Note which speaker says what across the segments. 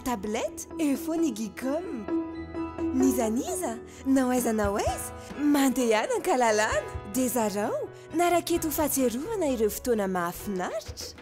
Speaker 1: tablette eo foana i gicom n'iza n'iza nao aiza nao aiza mandehana ankalalana dia zarao na raketo ho fahatsiarovana ireo fotoana mahafinaritra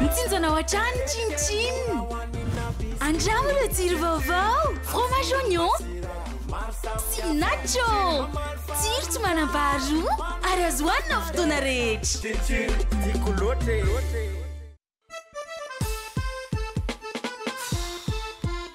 Speaker 2: Mitsinjana ao an-trano ny Chin Chin! Andramo ireo jiro vaovao! Fromage oignon sy nacho! Jiro tsy manam-paharoa ary azo hohanina amin'ny fotoana rehetra! Chin Chin, tiako loatra e!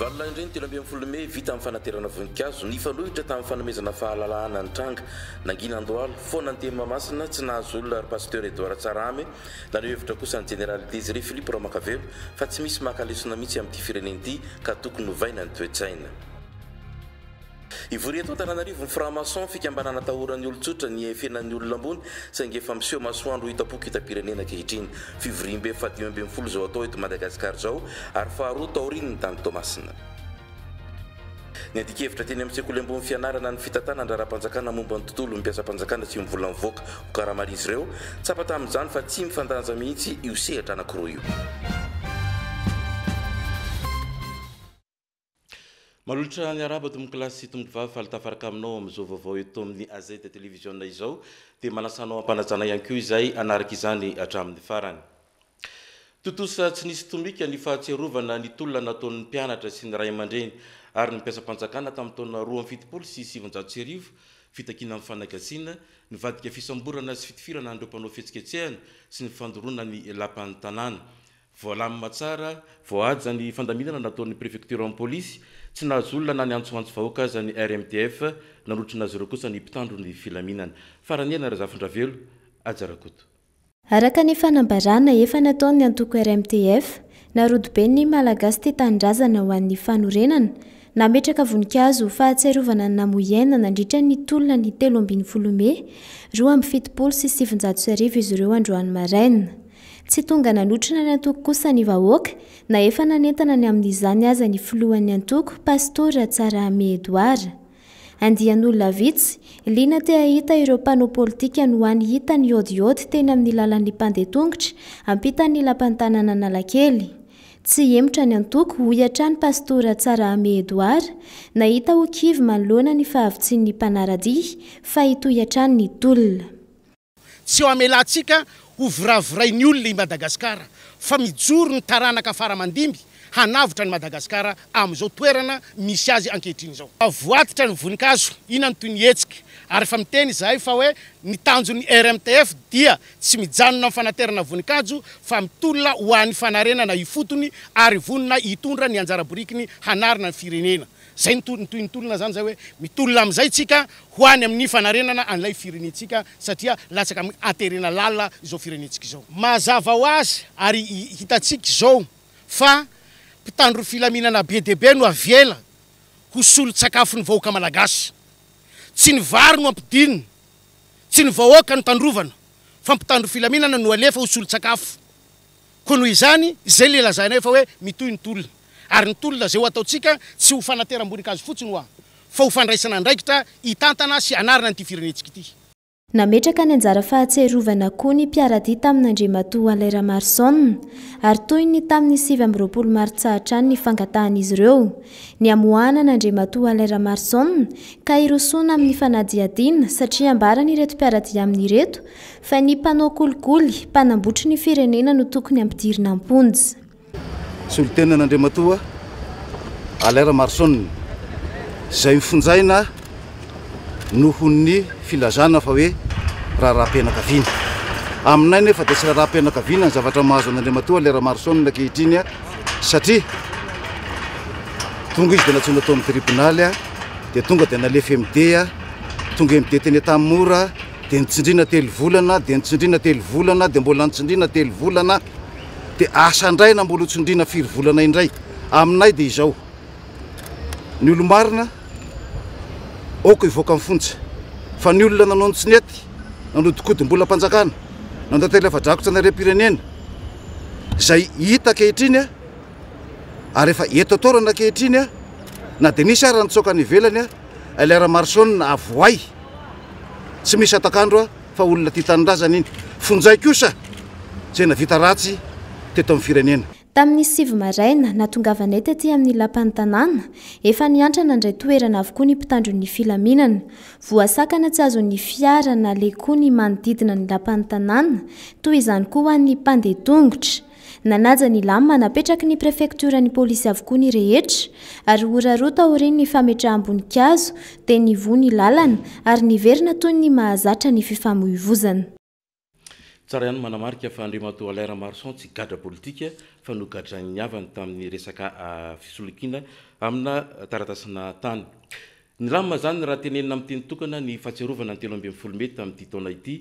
Speaker 3: Valolahin-dreny telo ambin'ny folo mey vita amin'ny fanaterana voninkazo, nifanohitra tamin'ny fanomezana fahalalahana ny tranga. Nangina andohalo, foana ny teny Mahamasina, tsy nahazo olona ry Pasteur Edouard Tsarahame. Naneho hevitra kosa ny Jeneraly Désiré Philippe Ramakavelo fa tsy misy maka lesona mihitsy amin'ity firenena ity ka tokony ovaina ny toe-tsaina. Hivory eto Antananarivo ny franc-maçon, fikambanana atahoran'ny olon-tsotra ny hihaifenan'ny olona ambony, saingy efa miseho masoandro ho hitam-poko hitam-pirenena ankehitriny. Fivoriambe fahadimy ambin'ny folo izao atao eto Madagasikara izao ary faharoa taorian'ny tany Toamasina. Niadi-kevitra teny amin'ny sekoly ambony fianarana ny fitantanana an-draharaham-panjakana momba ny tontolon'ny mpiasam-panjakana sy ny vola mivoaka ho karaman'izy ireo. Tsapa tamin'izany fa tsy mifandanja mihitsy io sehatra anankiroa io. Malotra ny arabo tompoko lahy sy tompoko vavy faly tafaraka aminao amin'izao vaovao eto amin'ny AZ Télévision izao dia manasa anao hampanajana ihany koa izay hanaraka izany hatramin'ny farany. Tontosa tsy nisy tomika ny fahatsiarovana ny tolona nataon'ny mpianatra sy ny ray aman-dreny ary ny mpiasam-panjakana tamin'ny taona roa amby fitopolo sy sivinjato sy arivo, fitakiana amin'ny fanagasiana, nivadika fisamborana sy fitifirana an'ireo mpanao fihetsiketsehana sy ny fandoroana ny lapan'ny tanàna. Voalamina tsara vao haja ny fandaminana nataon'ny prefektioran'ny polisy, tsy nahazo olona na niantsoantso vahoaka aza ny RMDF, nanotrona azy ireo kosa ny mpitandro ny filaminana. Farany eny Razafindravelo, Haja Rakoto. Araka
Speaker 4: ny fanambarana efa nataon'ny antoko RMDF, narodobe ny Malagasy tia tanindrazana ho an'ny fanorenana, nametraka voninkazo ho fahatsiarovana ny namoy aina nandritra ny tolona ny telo ambin'ny folo mey roa amby fitopolo sy sivinjato sy arivo izy ireo androany maraina. Tsy tonga nanotrona ny antoko kosa ny vahoaka, na efa nanentana ny amin'izany aza ny filohan'ny antoko, Pastora Tsarahame Edouard. Andian'olona vitsy, liana te hahita ireo mpanao politika no hany hita nihaodihaody teny amin'ny lalan'ny mpandeha tongotra, ampitan'ny lapan'ny tananan'Analakely. Tsy hihemotra ny antoko, hoy hatrany Pastora Tsarahame Edouard, nahita ho kivy manoloana ny fahavitsian'ny mpanara-dia, fa hitohy hatrany ny tolona.
Speaker 5: Tsy ho amelantsika ho viravirain'ny olona i Madagasikara fa mijoro ny taranaka fara aman-dimby hanavotra an'i Madagasikara amin'izao toerana misy azy ankehitriny izao. Avoaditra ny voninkazo ina ny toy ny hetsika ary efa miteny izahay fa hoe ny tanjon'ny RMTF dia tsy mijanona amin'ny fanaterana voninkajo fa mitolona ho an'ny fanarenana ifotony ary vonona hitondra ny anjara borikiny hanarina ny firenena Izay no tohiny toy ny tolona izany izay hoe mitolona amin'izay tsika ho any amin'ny fanarenana an'ilay firenentsika satria latsaka amin'ny haterena lalina izao firenentsika izao. Mazava ho azy ary hitantsika izao fa mpitandro ny filaminana be dia be no avela ho solon-tsakafon'ny vahoaka malagasy. Tsy ny vary no ampidinina, tsy ny vahoaka no tandrovana fa mpitandro filaminana no alefa ho solon-tsakafo. Koa noho izany, izay ilay lazainay fa hoe mitohy ny tolona. Ary ny tolona izay ho ataontsika tsy ho fanateram-boninkazo fotsiny hoa, fa ho fandraisana andraikitra hitantana sy hanarina an'ity firenentsika ity. Nametraka ny
Speaker 4: anjara fahatsiarovana koa ny mpiaradia tamin'Andriamatoa Alain Ramarison, ary toy ny tamin'ny sivy amby roapolo martsa hatrany ny fangatahan'izy ireo ny hamoahana an'Andriamatoa Alain Ramarison ka hirosoana amin'ny fanadihadiana satria ambaran'ireto mpiaradia aminy ireto Fa ny mpanao kolikoly, mpanambotry ny firenena no tokony ampidirina am-ponja.
Speaker 6: Solontenan'Andriamatoa Alain Ramaroson, izay hofonjaina noho ny filazana fa hoe raharaham-pianakaviana. Aminay nefa dia tsy raharaham-pianakaviana ny zavatra mahazo an'Andriamatoa Alain Ramaroson ankehitriny satria tonga izy dia nantsoina tao amin'ny tribonaly dia tonga dia nalefa MD, tonga MD teny Antanimora, Dia nitsindriana telo volana, dia nitsindriana telo volana, dia mbola nitsindriana telo volana, dia asa indray na mbola ho tsindriana firy volana indray. Aminay dia izao, ny olo-marina aoka hivoaka amin'ny fonja, fa ny olona nanao ny tsy nety, nanodinkodimbolam-panjakana, nanantena afa-drakotra ny harem-pirenena, izay hita ankehitriny ary efa eto an-toerana ankehitriny, na dia nisy ary nitsoaka any ivelany, Elhera Marson avohay. Tsy misy atak'andro a fa olona tia tanindrazana iny fonjay kosa zay navita ratsy teto amin'ny firenena. Tamin'ny sivy
Speaker 4: maraina, natongavanay taty amin'ny lapan'ny tanàna, efa niantra nandray toerana avokoa ny mpitandro ny filaminana. Voasakana tsy azon'ny fiara na le koa ny manodidina ny lapan'ny tanàna, toy izany koa ho an'ny mpandeha tongotra. Nanaja ny lamina napetraky ny prefektioran'ny polisy avokoa ny rehetra, ary ora roa taorian'ny fametraham-boninkazo dia nivoha ny lalana ary niverina toy ny mahazatra ny fifamoivozana.
Speaker 3: Tsara ihany ny manamarika fa Andriamatoa Alain Ramaroson tsy gadra politika fa nogadrain'ny havany tamin'ny resaka fisolokiana amina taratasina tany. Nilamina izany raha tenenina amin'ny teny tokana ny fahatsiarovana ny telo ambin'ny folo mey tamin'ity taona ity,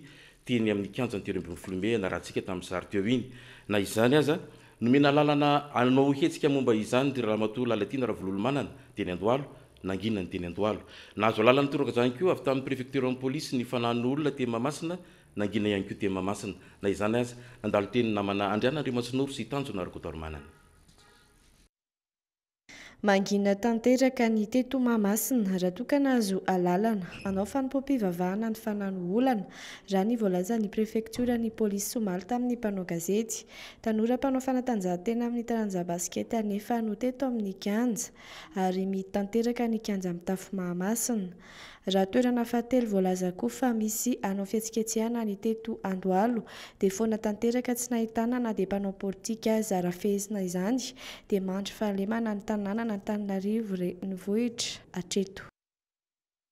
Speaker 3: teny amin'ny kianjan'ny telo ambin'ny folo mey ianarantsika tamin'ny sary teo iny. Na izany aza, nomena alalana hanao hetsika momba izany ry Ramatoa Lalatiana Ravololomanana, teny Andohalo, nangina ny teny Andohalo. Nahazo alalana nitoraka izany koa avy tamin'ny prefektioran'ny polisy ny fananan'ny olona teny Mahamasina, nangina ihany koa teny Mahamasina. Na izany aza, nandalo teny ny namana Andriana Andriamatsinoro sy Tanjona Rakotoarimanana.
Speaker 7: Mangina tanteraka ny teto Mahamasina raha toa ka nahazo alalana hanao fanompoam-pivavahana ny fanahy no olana, raha ny voalazan'ny prefektioran'ny polisy omaly tamin'ny mpanao gazety. Tanora mpanao fanatanjahantena amin'ny taranja basikety anefa no teto amin'ny kianja ary mihidy tanteraka ny kianja mitafo Mahamasina. Raha toerana fahatelo voalaza koa fa misy hanao fihetsiketsehana ny teto Andohalo dia foana tanteraka tsy nahitana na dia mpanao politika aza raha fehezina izany dia mandry fahalemana ny tananan'Antananarivo renivohitra hatreto.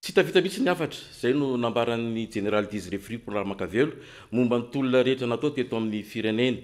Speaker 7: Tsy
Speaker 3: hita vita mihitsy ny hafatra, izay no nambaran'ny Jeneraly Desire Fripo Ramakavelo momba ny tolona rehetra natao teto amin'ny firenena.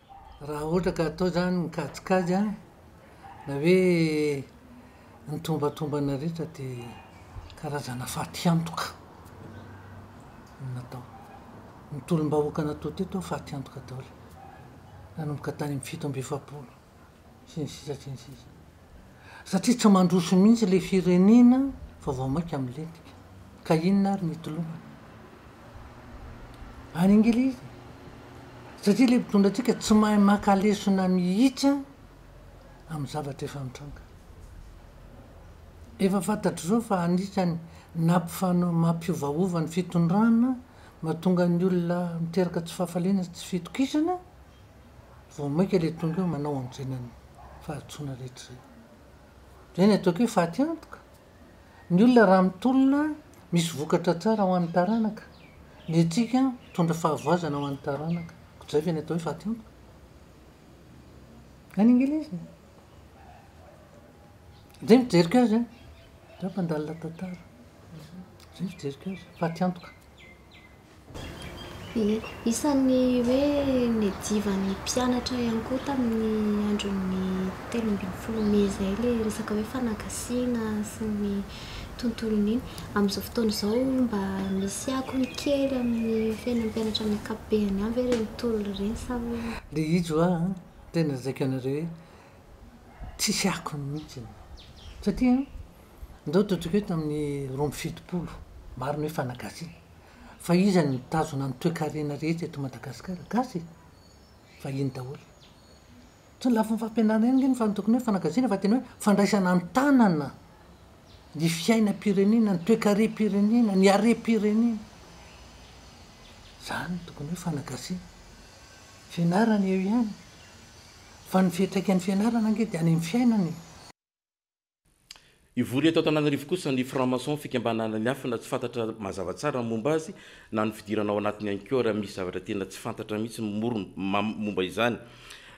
Speaker 8: Raha ohatra ka atao izany ny kajikajy an, na hoe ny tombatombana rehetra dia karazana fatiantoka no natao. Ny tolom-bahoaka natao teto an, fatiantoka daholo, nanomboka tany amin'ny fito amby efapolo. sy ny sisa sy ny sisa satria tsy mandroso mihitsy le firenena fa vao maika milentika ka inona ary ny itoloana any ingilizy satria le mpitondra antsika tsy mahay maka lesona mihitsy a amin'ny zavatra efa mitranga efa fantatr' izao fa anisany nampifana mampiovaova ny fitondrana mahatonga ny olona miteraka tsy fahafaliana sy tsy fitokisana vao maika le tonga eo manao anjena ny fahadisoana rehetra zay. Zay ny ataoko hoe faty antoka. Ny olona raha mitolona misy vokatra tsara ho an'ny taranaka. Ny antsika mitondra fahavoazana ho an'ny taranaka. Ko zay ve ny atao hoe faty antoka. Any Engeleza e. Zay ny fijeriko azy an. Za mpandalina tantara. Zay ny fijeriko azy. Faty antoka.
Speaker 9: Isan'ny hoe niadivan'ny mpianatra ihany koa tamin'ny andron'ny telo ambin'ny folo mey izay ilay resaka hoe fanagasiana sy ny tontolon'iny. Amin'izao fotoana izao mba misy akony kely amin'ny fiainan'ny mpianatra amin'ny ankapobeny ihany ve ireny tolona ireny sa hoe. Dia hijo aho
Speaker 8: an, tena zakaiko anareo hoe tsisy akony mihitsy e. Satria an, ndao totoiko eto amin'ny roa amby fitopolo, maro ny hoe fanagasiana. Fa iza no mitazona ny toekarena rehetra eto Madagasikara? Gasy e! Vahiny daholo. Tsy ny lafiny fampianarana ihany ange no fa tokony hoe fanagasiana fa tena hoe fandraisana an-tanana ny fiainam-pirenena, ny toekarem-pirenena, ny harem-pirenena. Zany no tokony hoe fanagasiana. Fianarana eo ihany, fa ny fiantraikan'ny fianarana ange dia any amin'ny fiainana e!
Speaker 3: Hivory eto Antananarivo kosa ny franc-maçon fikambanana miafina tsy fantatra mazava tsara ny momba azy na ny fidirana ao anatiny ihany koa raha misy zavatra tena tsy fantatra mihitsy morona momba izany.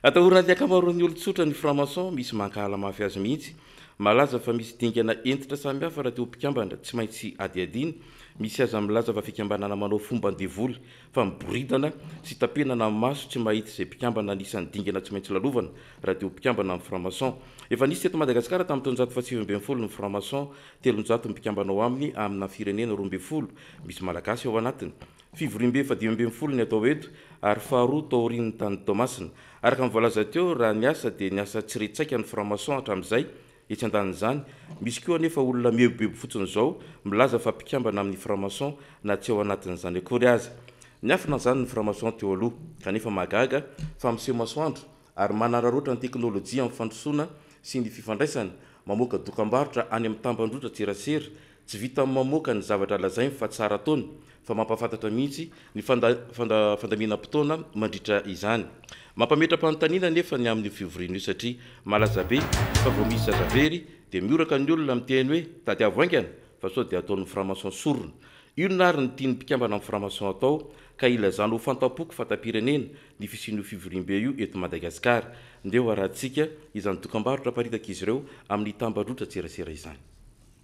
Speaker 3: Atahoran'ny ankamaroan'ny olon-tsotra ny franc-maçon, misy mankahala mafy azy mihitsy. Malaza fa misy dingana hentitra samihafa raha te ho mpikambana, tsy maintsy hadihadiana. Misy aza milaza fa fikambanana manao fomban-devoly. fa miboridana sy tapenana ny maso tsy mahita izay mpikambana anisan'ny dingana tsy maintsy lalovana raha dia ho mpikambana amin'ny franc-maçon. Efa nisy teto Madagasikara tamin'ny taonjato fahasivy ambin'ny folo ny franc-maçon, telonjato ny mpikambana ao aminy amina firenena roa ambin'ny folo misy Malagasy ao anatiny. Fivoriambe fahadimy ambin'ny folo ny atao eto ary faharoa taorian'ny tany Toamasina. Araka ny voalaza teo, raha niasa dia niasa tsy re-tsaika ny franc-maçon hatramin'izay, Etsy andanin'izany, misy koa anefa olona mihebohebo fotsiny izao milaza fa mpikambana amin'ny franc-maçon na tsy ao anatin'izany akory aza. Niafina an'izany ny franc-maçon teo aloha, kanefa mahagaga fa miseho masoandro ary manararaotra ny teknolojia amin'ny fandrosoana sy ny fifandraisana, mamoaka dokambarotra any amin'ny tambajotran-tserasera Tsy vitan'ny mamoaka ny zavatra lazainy fa tsara ataony fa mampahafantatra mihitsy ny fandaminam-potoana mandritra izany. Mampametra-panontaniana anefa ny amin'io fivoriana io satria malaza be fa vao misy zaza very dia mihoraka ny olona miteny hoe tadiavo haingana fa sao dia ataon'ny franc-maçon sorona. Inona ary ny tian'ny mpikambana amin'ny franc-maçon atao ka ilazana ho fantam-poko fantam-pirenena ny fisian'io fivoriambe io eto Madagasikara? Ndeha hoarahantsika izany dokam-barotra aparitak'izy ireo amin'ny tambajotran-tserasera izany.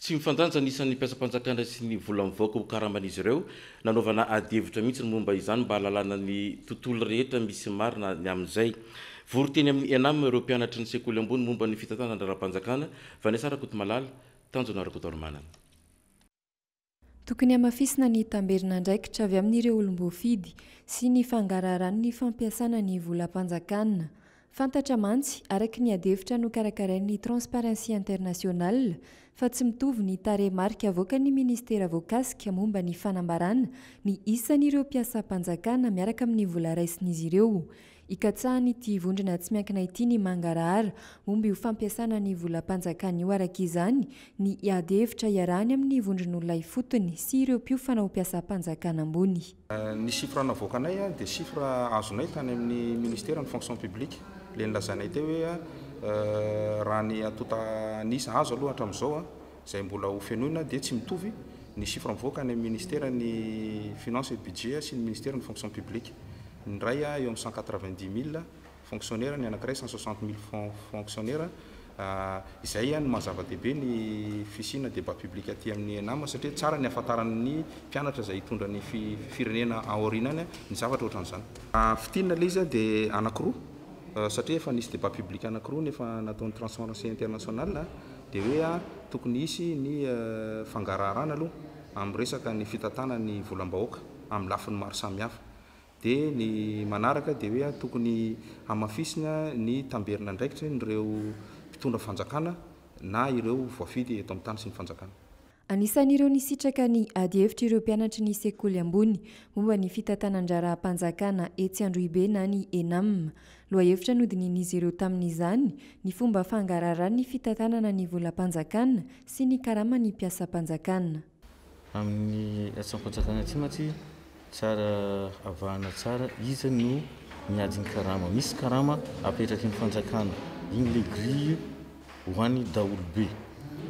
Speaker 3: Tsy mifandanja ny isan'ny mpiasam-panjakana sy ny vola mivoaka ho karaman'izy ireo. Nanaovana adihevitra mihitsy ny momba izany mba hahalalana ny tontolo rehetra misy marina ny amin'izay. Vory teny amin'ny Enam ireo mpianatry ny sekoly ambony momba ny fitantanana ara-panjakana, Vanessa Rakotomalala, Tanjona Rakotoarimanana.
Speaker 10: Tokony hamafisina ny tamberin'andraikitra avy amin'ireo olom-boafidy sy ny fangaraharan'ny fampiasana ny volam-panjakana. Fantatra mantsy, araka ny adihevitra nokarakarain'ny Transparency International, fa tsy mitovy ny tarehimarika avoakan'ny minisitera voakasika momba ny fanambarana ny isan'ireo mpiasam-panjakana miaraka amin'ny vola raisin'izy ireo Ikatsahan'ity vondrona tsy miankina ity ny mangarahara momba io fampiasana ny volam-panjakana io araka izany ny hiady hevitra iarahany amin'ny vondron'olona ifotony sy ireo mpiofana ho mpiasam-panjakana ambony. Ny chiffre
Speaker 11: navoakanay dia chiffre azonay tany amin'ny ministère ny fonction publique, ilay nilazainay teo hoe raha ny antonta an'isa azo aloha hatramin'izao, izay mbola ho fenoina dia tsy mitovy ny chiffre mivoaka any amin'ny Ministera ny Finances et Budget sy ny Ministera ny Fonction Publique. Ny iray eo amin'ny cent quatre-vingt-dix mille fonctionnaires, ny anankiray cent soixante mille fonctionnaires. Izay no maha-zava-dehibe ny fisiana débat public aty amin'ny Enam satria tsara ny hahafantaran'ny mpianatra izay hitondra ny firenena aoriana any ny zavatra ohatran'izany. Fintinina ilay izy dia anankiroa satria efa nisy débat public anankiroa ny efa nataon'ny Transparency International. Dia hoe tokony hisy ny fangaraharana aloha amin'ny resaka ny fitantana ny volam-bahoaka amin'ny lafiny maro samihafa. Dia ny manaraka dia hoe tokony hamafisina ny tamberin'andraikitry n'ireo mpitondra fanjakana na ireo voafidy eto amin'ny tany sy ny fanjakana. Anisan'ireo
Speaker 10: nisitraka ny adihevitra ireo mpianatry ny sekoly ambony momba ny fitantanan-draharaham-panjakana etsy Androhibe na ny Enam. Lohahevitra nodinihin'izy ireo tamin'izany ny fomba fangaraharan'ny fitantanana ny volam-panjakana sy ny karaman'ny mpiasam-panjakana. Amin'ny
Speaker 12: hetsi-panjakana ity mantsy Tsara avahana tsara iza no miady ny karama. Misy karama apetraky ny fanjakana. Iny le grille ho any daholo be.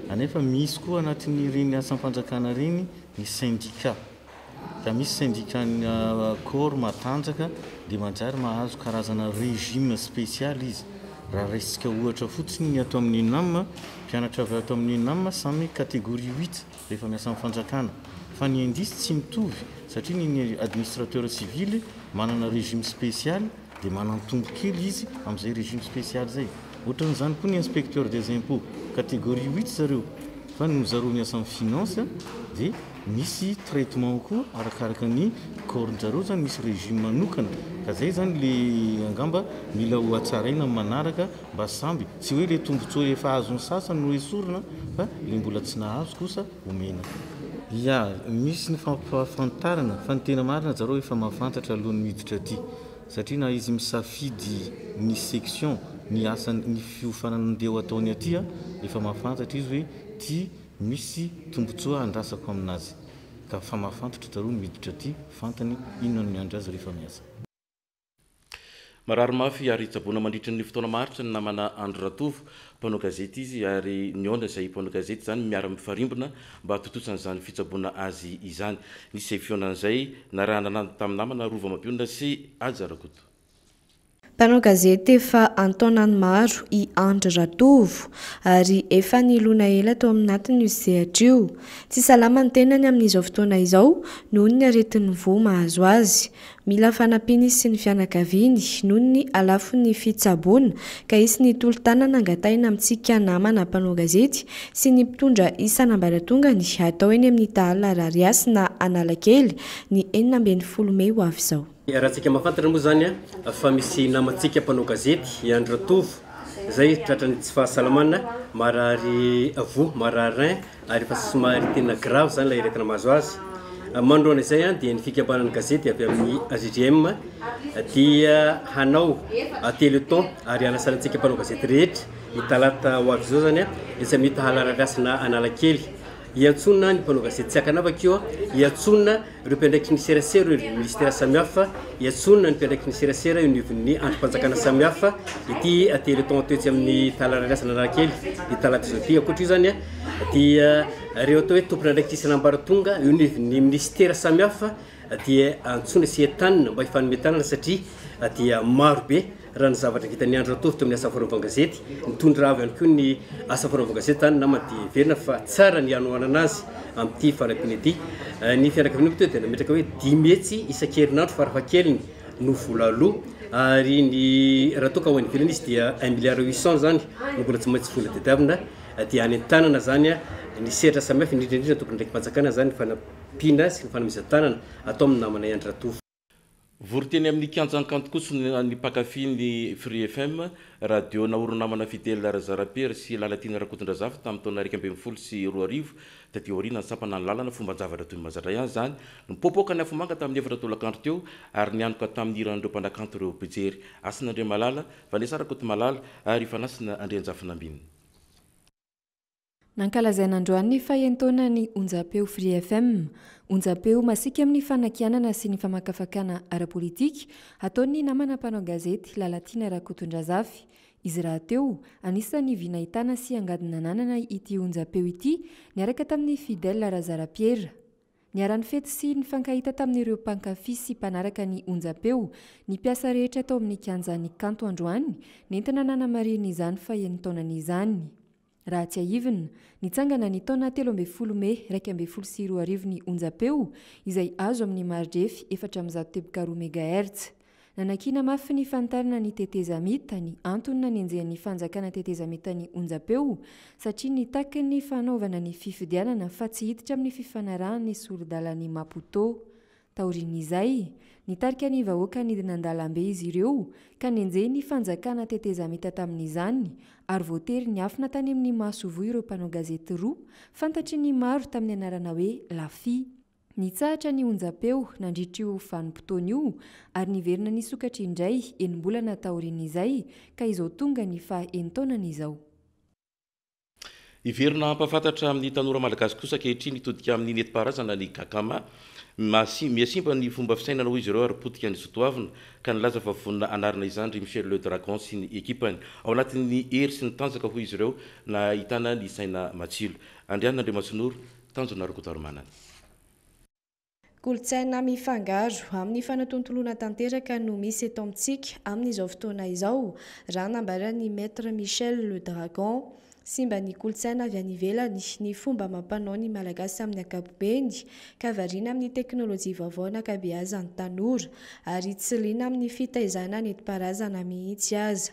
Speaker 12: Anefa misy koa anatin'ireny asam-panjakana ireny ny syndicat. Ka misy syndicat ny corps matanjaka dia manjary mahazo karazana régime spécial izy. Raha raisintsika ohatra fotsiny ny ato amin'ny Unam, mpianatra avy ato amin'ny Unam samy catégorie huit. Rehefa miasa amin'ny fanjakana. Fa ny indices tsy mitovy satria ny ny administrateur civil manana régime spécial dia manantombo kely izy amin'izay régime spécial izay. Ohatran'izany koa ny inspecteur des impôts, catégorie huit zareo fa ny zareo miasa amin'ny finance dia misy traitement koa arakaraka ny corps-n'jareo izany misy régime manokana ka izay izany le angamba mila hohatsaraina amin'ny manaraka. Mba samby, tsy hoe ilay tombotsoa efa azon'ny sasany no esorina fa ilay mbola tsy nahazo kosa omena. Ya, misy ny fampahafantarana fa ny tena marina zareo efa mahafantatra alohan'ny miditra aty satria na izy misafidy ny section ny asany ny fiofanana andeha ho ataony aty a, efa mahafantatra izy hoe ty misy tombotsoa andrasako aminazy ka fa mahafantatra zareo ny miditra aty, fantany inona no miandry azy rehefa miasa. Marary
Speaker 3: mafy ary tsaboina mandritry ny fotoana maharitra ny namana Andry Ratovo. Mpanao gazety izy ary nihaona izay mpanao gazety izany miara-mifarimbona mba hatontosa an'izany fitsaboana azy izany. Nisy izay fihaonan'izay narahana landy tamin'ny namana Rova Mapionona sy Haja Rakoto.
Speaker 7: Mpanao gazety efa an-taonany maro i Andry Ratovo ary efa nilona ela tao amin'atiny io sehatra io. Tsy salama ny tenany amin'izao fotoana izao noho ny aretin'ny voa mahazo azy. Mila fanampiana izy sy ny fianakaviany noho ny halafon'ny fitsaboana ka hisy ny tolo-tanana angatahina amintsika namana mpanao gazety sy ny mpitondra isan'ambaratongany hatao eny amin'ny Tahala Arariasy na Analakely ny enina ambin'ny folo mey ho avy izao. Iharantsika mahafantatra
Speaker 13: moa izany fa misy namantsika mpanao gazety, i Andry Ratovo, izay tratran'ny tsy fahasalamana, marary voa, marary rein, ary efa somary tena grave izany ilay aretina mahazo azy. Manoloana izay dia ny fikambanan'ny gazety avy amin'ny AJJM dia hanao téléthon ary hanasana antsika mpanao gazety rehetra ny talata ho avy izao izany dia samia tahala arariasina Analakely. Iantsoana ny mpanao gazety tsy ankanavaka io, iantsoana Ireo mpiandraikitry ny serasera ireo ireo minisitera samihafa iantsoana ny mpiandraikitry ny serasera eo anivon'ny andrim-panjakana samihafa ity Téléthon tetsy amin'ny Talarariasana Analakely ny talata izao ity. Ankoatra io izany dia ireo atao hoe tompon'andraikitra isan'ambaratonga eo anivon'ny minisitera samihafa dia antsoina sy entanina mba hifanome tanana satria dia marobe Raha ny zavatra vitan'i Andry Ratovy teo amin'ny asa fanaovan-gazety, nitondra avy ihany koa ny asa fanaovan-gazety izany namana dia heverina fa tsara ny hanohanana azy amin'ity fanampiana ity. Ny fianakaviana moa teto dia nametraka hoe dimy hetsy isan-kerinandro farafahakeliny no vola aloa ary ny raha toa ka ho any ivelany izy dia un milliard huit cent izany no mbola tsy maintsy vola tadiavina dia hanentanana izany ny sehatra samihafa indrindra indrindra ny tompon'andraiki-panjakana izany ny fanampiana sy ny fanomezan-tanana atao amin'ny namanay Andry Ratovy. Vory teny
Speaker 3: amin'ny kianjan'ny kanto kosa ny mpankafy ny Free FM, radio naorinamana Fidèle Razarapiera sy Lalatiana Rakotondrazafy tamin'ny taona iraika ambin'ny folo sy roa arivo, taty aoriana ny sampana nilalana fomban-javatra toy ny mahazatra ihany izany, nipoapoaka ny afomanga tamin'ny efatra tolakandro teo ary nianoka tamin'ny hiran'ireo mpanakanto ireo mpijery, Hasina Andriamalala, Vanessa Rakotomalala ary Fanasina Andrianjafinambina.
Speaker 10: Nankalazaina androany ny fahen'taonan'ny Onjampeo Free FM. Onjampeo masiaka amin'ny fanakianana sy ny famakafakana ara-politika ataon'ny namana mpanao gazety Lalatiana Rakotondrazafy. Izy rahateo, anisan'ny vy nahitana sy angady nananana ity onjampeo ity niaraka tamin'i Fidèle Razarapiera. Niara-nifety sy nifankahita tamin'ireo mpankafy sy mpanaraka ny onjampeo ny mpiasa rehetra tao amin'ny kianjan'ny kanto androany, nentina nanamarihina izany fahen'ny taonany izany. Raha tsiahivina, nitsangana ny taona telo ambin'ny folo mey iraika ambin'ny folo sy roa arivo ny onjampeo, izay azo amin'ny maridrefy efatra amby zato teboka roa megahertz. Nanakiana mafy ny fanitarana ny tetezamita ny antony nanenjehan'ny fanjakana tetezamita ny onjam-peo satria nitaky ny fanaovana ny fifidianana fa tsy hiditra amin'ny fifanarahan'ny sori-dalan'i Maputo. Taorian'izay, nitarika ny vahoaka nidina an-dalambe izy ireo ka nenjehin'ny fanjakana tetezamita tamin'izany ary voatery niafina tany amin'ny masoivoho ireo mpanao gazety roa fantatry ny maro tamin'ny anarana hoe Lafy Nitsahatra ny onjam-peo nandritra io vanim-potoana io ary niverina nisokatra indray enim-bolana taorian'izay ka izao tonga ny faha enin-taonany izao.
Speaker 3: Hiverina hampahafantatra amin'ny tanora malagasy kosa ankehitriny hitodika amin'ny nentim-paharazana ny Gakama. Mihasimba ny fomba fisainana hoy izy ireo ary potika ny zo toavina ka nilaza fa vonona hanarina izany ry Michel Le Dragon sy ny ekipany. Ao anatin'ny hery sy ny tanjaka hoy izy ireo no ahitana ny saina matsilo. Andriana Andriamasinoro. Tanjona Rokodoromanana.
Speaker 7: Kolontsaina mifangaro amin'ny fanatontoloana tanteraka no misy eto amintsika amin'izao fotoana izao, raha nambaran'ny Maître Michel Le Dragon. Simba ny kolontsaina avy any ivelany, ny fomba amam-panao ny Malagasy amin'ny ankapobeny, ka variana amin'ny teknolojia vaovao an'ankabeazan'ny tanora, ary tsy liana amin'ny fitaizana nentim-paharazana mihitsy aza.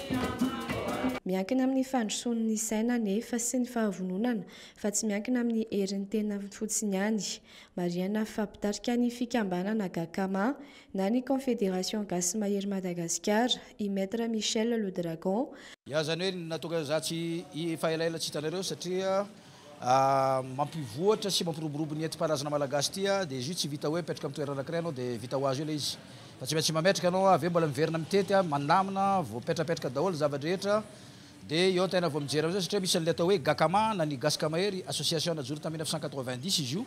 Speaker 7: Miankina amin'ny fandrosoan'ny saina anefa sy ny fahavononana fa tsy miankina amin'ny herin'ny tena fotsiny ihany. Marihana fa mpitarika ny fikambanana Gakama na ny Confederation Gasy Mahery Madagasikara i Maître Michel Le Dragon, Ny azany hoe
Speaker 14: natokana izaho tsy efa elaela tsy hitanareo satria mampivoatra sy mampiroborobo ny enti-paharazana malagasy ity a, dia izy io tsy vita hoe apetraka amin'ny toerana anankiray ianao dia vita ho azy eo ilay izy fa tsy maintsy mametraka ianao avy eo mbola miverina mitety a, manamina, voapetrapetraka daholo ny zava-drehetra dia eo tena vao mijery an'izao satria misy an'ilay atao hoe Gacama na ny Gasy Kamahery, association najoro tamin'ny mille neuf cent quatre-vingt-dix izy io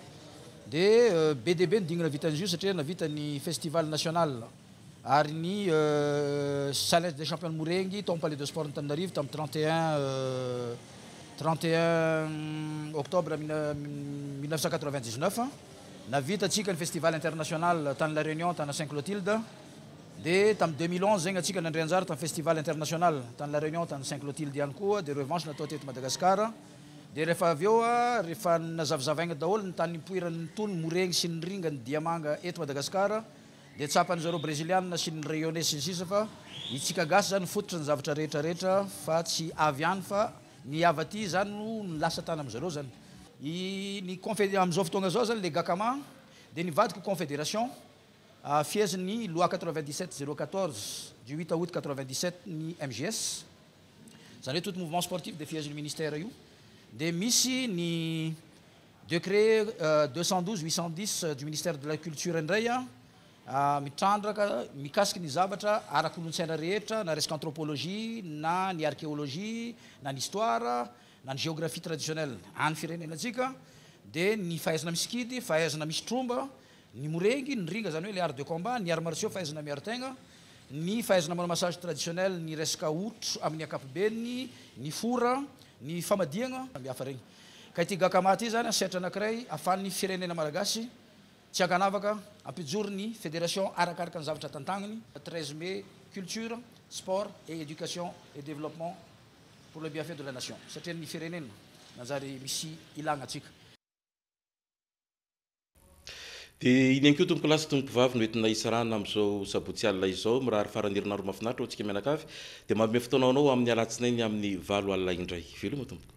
Speaker 14: dia be dia be ny dingana vita an'izio satria nahavita ny festival national. ary ny Challenge des Champions Morengy tao amin'ny Palais de Sports Antananarivo tamin'ny trente et un trente et un octobre mille neuf cent quatre-vingt dix-neuf. Nahavita antsika ny Festival International tany La Réunion tana Saint Clotilde dia tamin'ny deux mille onze zegny antsika nandray anjara tamin'ny Festival International tany La Réunion tany Saint Clotilde ihany koa dia revanche natao teto Madagasikara dia rehefa avy eo rehefa nazavazavaigna daholo ny tany nipoiran'ny tony morengy sy ny ringany diamanga eto Madagasikara Dia tsapan'ny zareo Breziliana sy ny Rayonnais sy ny sisa fa itsika gasy zany fototry ny zavatra rehetra rehetra fa tsy avy any fa ny hava aty zany no lasa tany amin zareo zany i ny confed amizao fotoagna zao zany le gacama dia nivadika confederation fihezin ny loi quatre vingt dix sept zero quatorze du huit aout quatre vingt dix sept ny mgs zany hoe tout mouvement sportif dia fihezin ny ministère io dia misy ny Décret deux cent douze huit cent dix du ministère de la culture indray mitrandraka mikasika ny zavatra ara-kolontsaina rehetra na resaka anthropologie na ny archéologie na ny histoire na ny géographie traditionnelle any firenenantsika dia ny fahaizana misikidy, fahaizana misy tromba, ny morengy, ny ringa izany hoe ilay art de combat, ny arts martiaux fahaizana miaro tegna, ny fahaizana manao massage traditionnel ny resaka otro amin'ny ankapobeny, ny fora, ny famadihagna samihafa regny. Ka ity Gacama ity izany sehatra anankiray ahafahan'ny firenena malagasy tsy ankanavaka hampijoro ny fédération arakaraka ny zavatra tantaniny, treize mai, culture, sport et éducation et développement pour le bienfait de la nation, satria ny firenena nanjary misy ilagna antsika.
Speaker 3: Dia iny ihany koa tompokolahy sy tompokovavy no entina hisarahana amin'izao sabotsy alina izao. Mirary faran'ny herinandro mahafinaritra ho antsika mianakavy. Dia manome fotoana ho anao amin'ny alatsinainy amin'ny valo alina indray. Veloma tompoko.